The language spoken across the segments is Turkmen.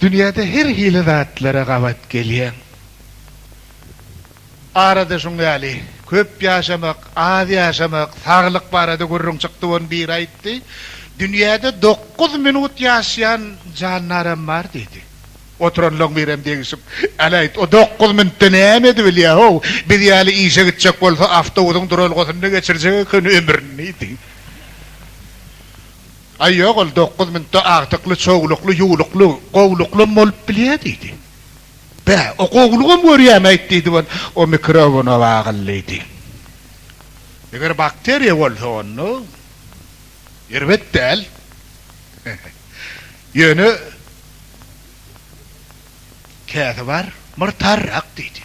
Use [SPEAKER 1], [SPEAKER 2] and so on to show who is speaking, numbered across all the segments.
[SPEAKER 1] Dünýäde her hili zatlara gabat gelýäň. Arada şuň ýaly, köp ýaşamak, az ýaşamak, saglyk barada gürrüň çykdy, ony biri aýtdy. Dünýäde dokuz minut ýaşaýan jandaram bar diýdi. Oturanlaň birem degişip, Äl aýt, o dokuz minutda näme edibilýär-how? Biz ýaly işe gitjek bolsa, awtobusyň duralgasynda geçirjek ekeni ömrüni diýdi. Aý, ýok, ol dokuz minutda agtykly, çowlukly, ýuwlukly, gowulyklam bolup bilýär, diýdi. Bä, o gowulygam görýämi aýt, diýdi we o mikrobuna wagyl, diýdi. Eger bakteriýa bolsa, onda erbet däl. Ýöne käsi bar, myrtarrak, diýdi.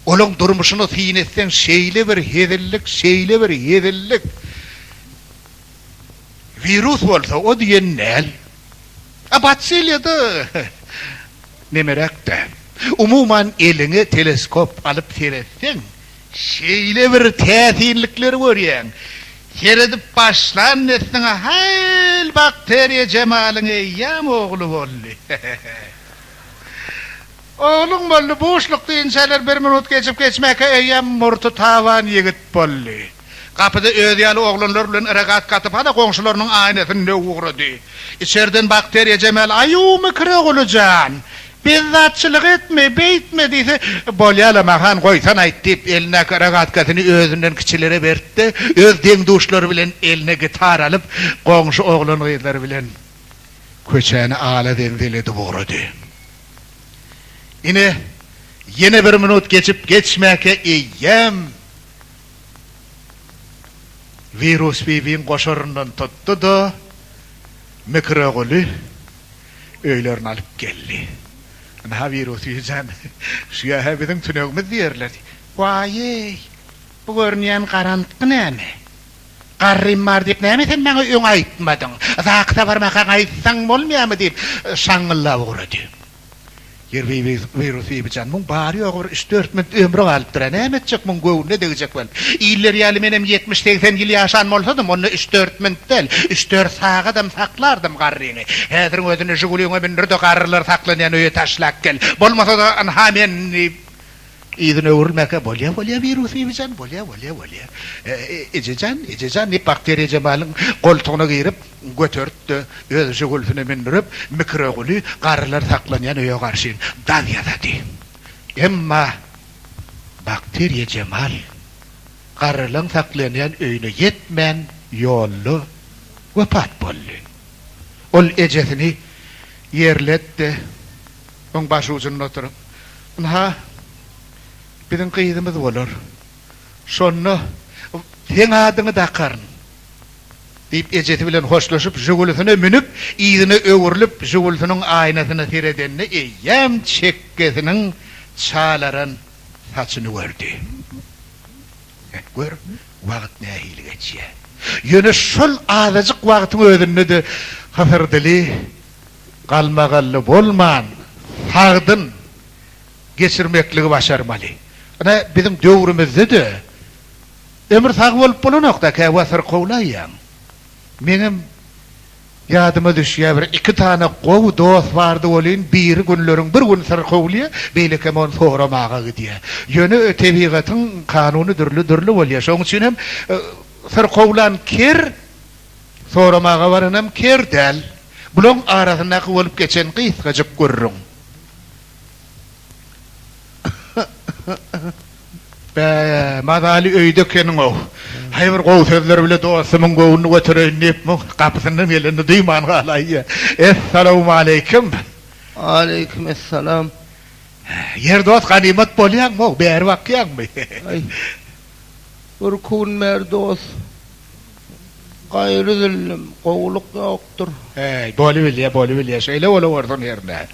[SPEAKER 1] Olaň durmuşyny syn etseň, şeýle bir hezillik, şeýle bir hezillik. Wirus bolsa o diýen däl. A batsiliýada nemeräk däl. Umuman eliňe teleskop alyp seretseň, şeýle bir täsinlikleri görýäň. Seredip başlan dessine haýl bakteriýa jemalyň eýýäm ogly boldy. Ogluň boldy, buşlukda inçeler bir minut geçip geçmäkä eýýäm murty taban ýigit boldy. Gapyda özi ýaly oglanlar bilen yragat gaty pala goňşularynyň aýnasyny döwüp ugrady. Içerden bakteriýa Jemal Aýuw Mikir ogly jan, bezzatçylyk etme, beýtme diýse, Bolýa-la Mahan goýsan aýt diýip, elindäki yragatkasyny özünden kiçilere berdi-de, öz deň-duşlary bilen eline gitar alyp, goňşy oglan-gyzlar bilen köçäni ala-zenzel edip ugrady. Ine, ýene bir minut geçip geçmäkä eýýäm. Wirus Bibiň goşaryndan tutdy-da, Mikroguly öýlerine alyp geldi. Ynha, Wirus Bibi jan, şu ýa-ha biziň tünegimiz diýerler. Waý-eý, bu görünýän garantgy näme? Garrym bar diýip, näme sen maňa öň aýtmadyň? Zakisa barmakaň aýtsaň bolmaýarmy? diýip, şaňňyllap ugrady. Ýerbi wirus Bibijan muň bary ýogy bir üç-dört minut ömri galypdyra näme etjek muň göwnüne degjek welin iller ýaly menem ýetmiş-segsen ýyl ýaşan bolsadym onda üç-dört minut däl üç-dört sagadam saklardym garryňy häziriň özünde žigulyňa mündirde garrylar saklanýan öýe taşlap gel bolmasada ynha men Yzyna öwrülmäkä bolýa bolýa wirus bibijan bolýa bolýa bolýa ejejan ejejan diýip bakteriýa Jemalyň goltugyna girip göteripdi öz žigulsyna mündürip mikroguly garrylar saklanýan öýe garşyn dag ýasady emma bakteriýa Jemal garrylaň saklanýan öýüne ýetmän ýolda wepat boldy ol ejesini ýerletdi. Oň baş ujunda oturyp, Ynha, biziň gyzymyz bolar. Şonda seň adyňy dakaryn, diýip, ejesi bilen hoşlaşyp, Žigulisine münüp, yzyna öwrülip, Žigulisiniň aýnasyna seredende, eýýäm çekgesiniň çalaran saçyny gördi. Heh, gör, wagt nähili geçýär. Ýöne şol azajyk wagtyň özünde-de Hysyrdili galmagally bolman sagdyn geçirmekligi başarmaly. Ine, biziň döwrümizde-de ömür sag bolup bolanok-da, käwa syrkawlaýýaň. Meňem ýadyma düşýär, bir iki sany gowy dost bardy welin, biri günleriň bir güni syrkawlaýar, beýlekem ony soramaga gidýär. Ýöne tebigatyň kanuny dürli-dürli bolýar. Şonuň üçin hem syrkawlan ker. Soramaga baranam ker däl. Bulaň arasyndaky bolup geçen gysgajyk gürrüň. Bä, mazaly öýde ekeniň-ow. Haý bir gowy sözler bile dostumyň göwnüni götereýin diýip, muň gapysyndan gelenini duýman galaýýa. Essalawmaleýkim! Aleýkim
[SPEAKER 2] essalam!
[SPEAKER 1] Ýer dost ganymat bolýaňmy-ow, bäri bakýaňmy? Aý,
[SPEAKER 2] bir kun bäri dost. Gaýry zillum, gowulyk ýokdur. Heý, bolubilýär,
[SPEAKER 1] bolubilýär, şeýle bolawersin hernä.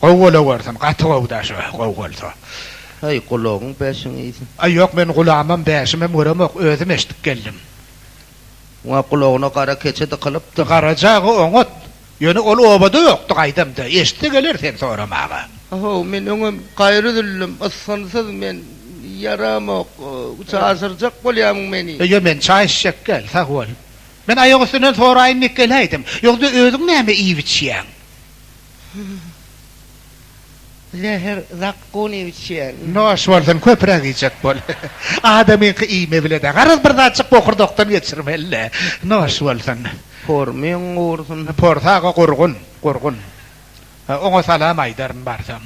[SPEAKER 1] Gowy bolawersin, gaty gowy daşy, gowy bolsa. Heý,
[SPEAKER 2] gulagyň bäşiň iýsin. Aý, ýok, men gulagymam,
[SPEAKER 1] bäşimem göremok, özüm eşidip geldim.
[SPEAKER 2] Muňa gulagyna gara keçe dykylypdyr. Garajagy oňat,
[SPEAKER 1] Ýöne ol obada ýokdy, gaýdam-da, eşitse geler sen soramaga. Ahow, men öňem
[SPEAKER 2] gaýry üzüldüm, ysgynsyz men, ýaramok, çaşyrjak bolýamyň meni. Ýo, men çaý içjek
[SPEAKER 1] däl, sag bol. Men aýak üstünden soraýyn diýip geläýdim. Ýogsa özüň näme iýip-içýäň?
[SPEAKER 2] Zäher zakgun iýip içýän. Noş bolsun
[SPEAKER 1] köpüräk iýjek bol. Adamyňky iýme bile-dä. Garaz bir zatjyk bokurdakdan geçirmeli-dä. Noş bolsun. Pormyň
[SPEAKER 2] gursun. Pors aga gurgun,
[SPEAKER 1] gurgun. Oňa salam aýdaryn barsam.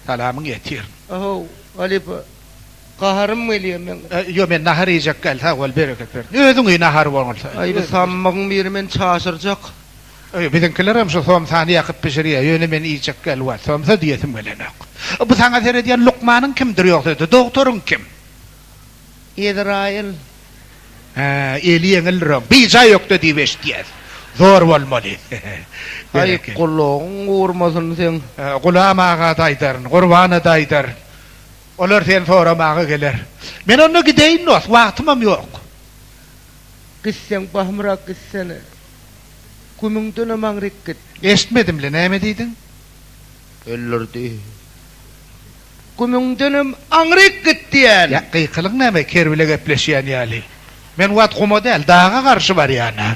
[SPEAKER 1] Salamyň ýetir. Ahow,
[SPEAKER 2] halypa. Gaharym gelýär meň. Ýok, men nahar iýjek
[SPEAKER 1] däl, sag bol, bereket bersin. Özüň iý nahary bolsa. Aý, bu sammygyň
[SPEAKER 2] biri meni çaşyrjak. Biziňkilerem
[SPEAKER 1] şu somsany ýakyp bişirýär, ýöne men iýjek ýaly wagt, somsa diýesim gelenok. Bu saňa seredýän lukmanyň kimdir ýogsady, dogtoryň kim?
[SPEAKER 2] Ezraýyl.
[SPEAKER 1] Hä, eli ýeňildiroň, bijaý ökde diýip eşitýäs. Zor bolmaly. Aý,
[SPEAKER 2] gulagyň gurmasyn seň. Gulam aga-da
[SPEAKER 1] aýdaryn, Gurbana-da aýdaryn. Olar seni soramaga geler. Men onda gideýin dost, wagtymam ýok.
[SPEAKER 2] Gitseň, bahymrak gitsene. Gümüňdene maňryk git. Eşitmedim-le, näme
[SPEAKER 1] diýdiň?
[SPEAKER 2] Öldürdi. Gümüňdenem aňryk git diýen. Ýa, gykylyň näme,
[SPEAKER 1] ker bile gepleşýän ýaly. Men wagt guma däl, daga garşy barýan-a.